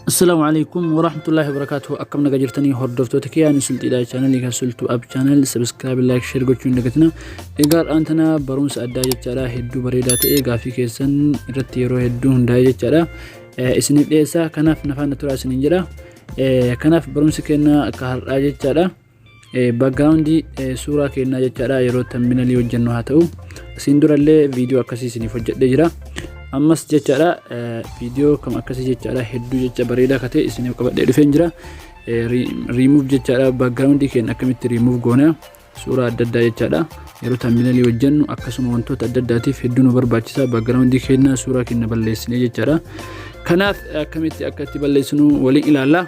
Assalaamu alaikum warahmatullahi wabarakatuh akkam naga jirtanii hordoftoota kiyyaa ni sulxiidha chaanalii kan sultu ab chaanal sabiskiraabi laayik sheer gochuun dagatina egaa dhaan tana barumsa addaa jechaadha hedduu bareedaa ta'e gaafii keessan irratti yeroo hedduu hundaa'e jechaadha isiniif dhiyeessaa kanaaf nafaan na turaa isiniin jedha kanaaf barumsi keenya akka har'aa jechaadha. backgroundii suuraa keenyaa jechaadha yeroo tamminalii hojjennu haa ta'u isin durallee viidiyoo akkasii isiniif hojjedhee jira ammas jechaadha viidiyoo kam akkasii jechaadha hedduu jecha bareedaa akka ta'e isiniif qabadhee dhufeen jira riimuuf jechaadha backgroundii keenya akkamitti riimuuf goona suuraa adda addaa jechaadha yeroo tamminalii hojjennu akkasuma wantoota adda addaatiif hedduu nu barbaachisa backgroundii keenya suuraa keenya balleessinee jechaadha kanaaf akkamitti akka itti balleessinu waliin ilaalla.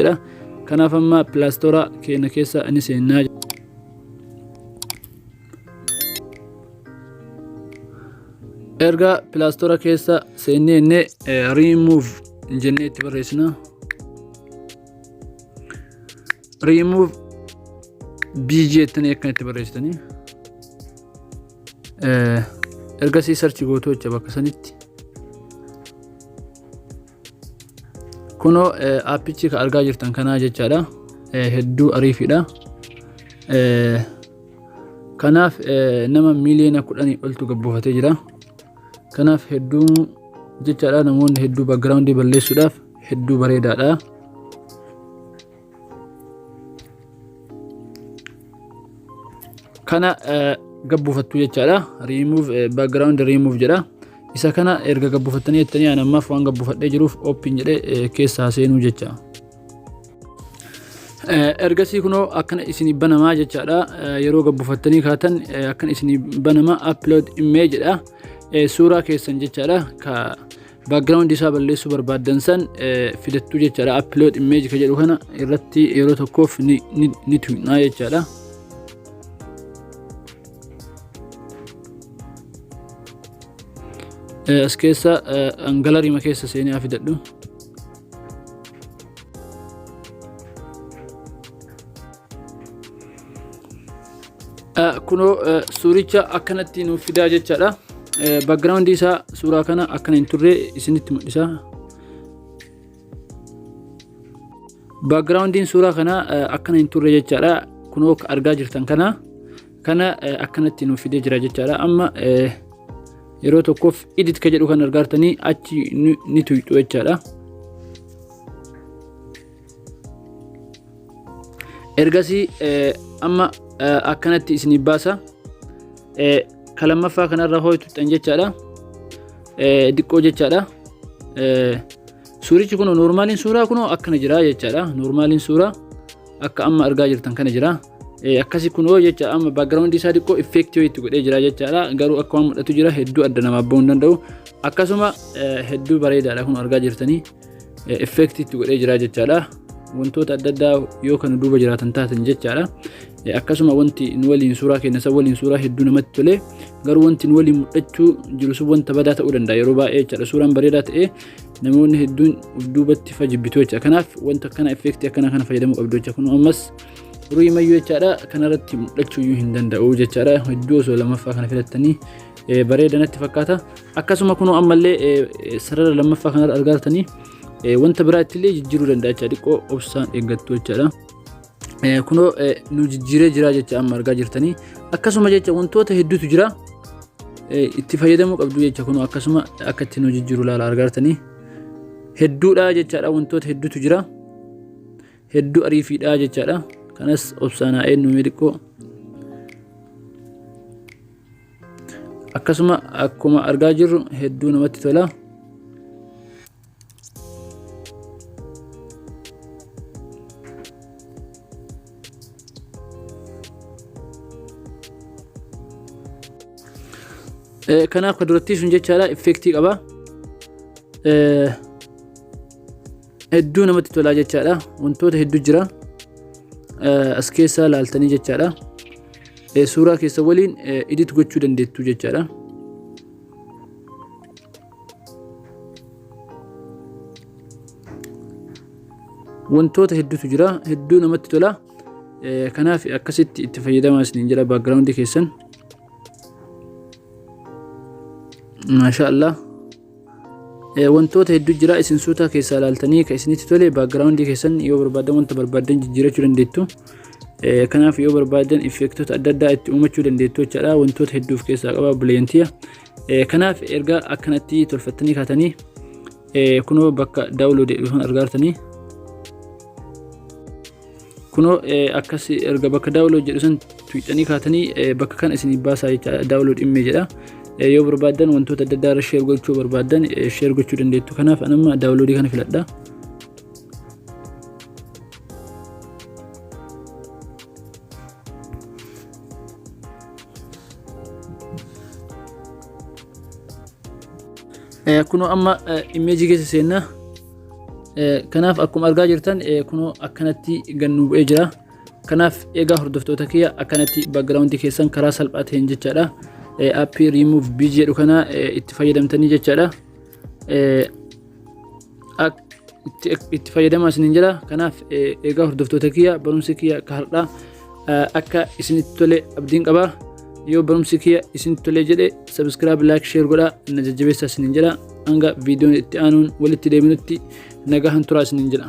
jedha kanaaf amma pilaastoora keenya keessa ni seennaa erga pilaastoora keessa seennee inni riimuuf jennee itti barreessina riimuuf bg jettanii akkan itti barreessitanii ergasii sarchi gootu jecha bakka sanitti kunoo aappichi ka argaa jirtan kanaa jechaadha hedduu ariifiidha kanaaf nama miiliyoona kudhanii oltu gabbuufatee jira kanaaf hedduu jechaadha namoonni hedduu background balleessuudhaaf hedduu bareedaadha kana gabbufattu jechaadha remove background remove jedha isa kana erga gabbufattanii jettanii ani ammaaf waan gabbufadhee jiruuf open jedhee keessaa seenuu jecha ergasii kunoo akkana isin banamaa jechaadha yeroo gabbufattanii kaatan akkana isin banama upload image jedha suuraa keessan jechaadha ka background isaa balleessuu barbaaddan san filattuu jechaadha upload image ka jedhu kana irratti yeroo tokkoof ni tuqnaa jechaadha as keessa angalarima keessa seenee haa fidadhu Kunoo suuricha akkanatti nuuf fidaa jechaadha. Backgroundii isaa suuraa kana akkana hin turre isinitti mul'isa. Backgroundiin suuraa kana akkana hin turre jechaadha. Kunoo argaa jirtan kana kana akkanatti nuuf fidee jira jechaadha. Amma yeroo tokkoof edit ka jedhu kan argaartanii achi ni tuyxu jechaadha. ergasii eh, amma eh, akkanatti isinii baasa Eh, ka lammaffaa kanarra hooy tuxxan jechaadha Eh, diqqoo jechaadha Eh, suurichi kun noormaaliin suuraa kun akkana jira jechaadha noormaaliin suuraa akka amma argaa jirtan kana jira Eh, akkasi kun hoo jecha amma background isaa diqqoo effect yoo itti godhee jira jechaadha garuu akka waan mul'atu jira hedduu adda namaaf ba'uu hin danda'u akkasuma eh, hedduu bareedaadha kun argaa jirtanii effeektii itti godhee jira jechaadha. Wantoota adda addaa yoo kan duuba jiraatan taatan jechaadha. Akkasuma wanti nu waliin suuraa keenya isa waliin suuraa hedduu namatti tole garuu wanti nu waliin mul'achuu jiru sun wanta badaa ta'uu danda'a yeroo baay'ee jechaadha. Suuraan bareedaa ta'ee namoonni hedduun of duubatti fajibbitu jecha. Kanaaf wanta akkana effeektii akkana kana fayyadamuu qabdu jecha. Kun ammas ruuyi mayyuu jechaadha kanarratti mul'achuu iyyuu hin danda'u jechaadha. Hedduu osoo lamaffaa kana filattanii bareeda natti fakkaata. akkasuma kunoo ammallee sarara lammaffaa kanarra argaa jirtanii wanta biraa ittillee jijjiiruu danda'a jecha xiqqoo obsaan eeggattu jechaadha. Kunoo nu jijjiiree jira jecha amma argaa jirtanii akkasuma jecha wantoota hedduutu jira itti fayyadamuu qabdu jecha kunoo akkasuma akka itti nu jijjiiru laala argaa jirtanii hedduudha jechaadha wantoota hedduutu jira hedduu ariifiidha jechaadha kanas obsaan haa eenyu xiqqoo. akkasuma akkuma argaa jirru hedduu namatti tola. Eh, Kanaaf kan durattii sun jechaadha effektii qaba. Eh, hedduu namatti tolaa jechaadha wantoota hedduu jira as keessaa laaltanii jechaadha suuraa keessa waliin edit gochuu dandeettu jechaadha wantoota hedduutu jira hedduu namatti tola kanaaf akkasitti itti fayyadamaa isiniin jedha baakgiraawundi keessan maashaa allah wantoota hedduu jira isin suutaa keessaa ilaaltanii kan isinitti tole baakgiraawundii keessan yoo barbaadan wanta barbaadan jijjiirachuu dandeettu kanaaf yoo barbaadan effeektoota adda addaa itti uumachuu dandeettu jechaadha wantoota hedduuf keessaa qaba bileeyantiya kanaaf erga akkanatti tolfattanii kaatanii kunoo bakka daawuloodee dhufan argaartanii kunoo akkas erga bakka daawunlood jedhu san tuuxanii kaatanii bakka kana isin baasaa jecha daawunlood immee jedha yoo barbaaddan wantoota adda addaa irra sheer gochuu barbaaddan sheer gochuu dandeettu kanaaf anamma daawunloodii kana filadha. kunoo amma immeejii keessa seennaa Kanaaf akkuma argaa jirtan kunoo akkanatti gad nu bu'ee jira. Kanaaf egaa hordoftoota kiyya akkanatti background keessan karaa salphaa ta'een jechaadha. Appii remove bg jedhu kana itti fayyadamtanii jechaadha. Itti fayyadamaa isiniin jira. Kanaaf egaa hordoftoota kiyya barumsi kiyya akka har'aa akka isinitti tole abdiin qaba yoo barumsi kiyya isinitti tole jedhe sabiskiraab laayik sheer godha na jajjabeessaa isiniin jedha hanga viidiyoon itti aanuun walitti deebinutti nagahan turaa isiniin jedha.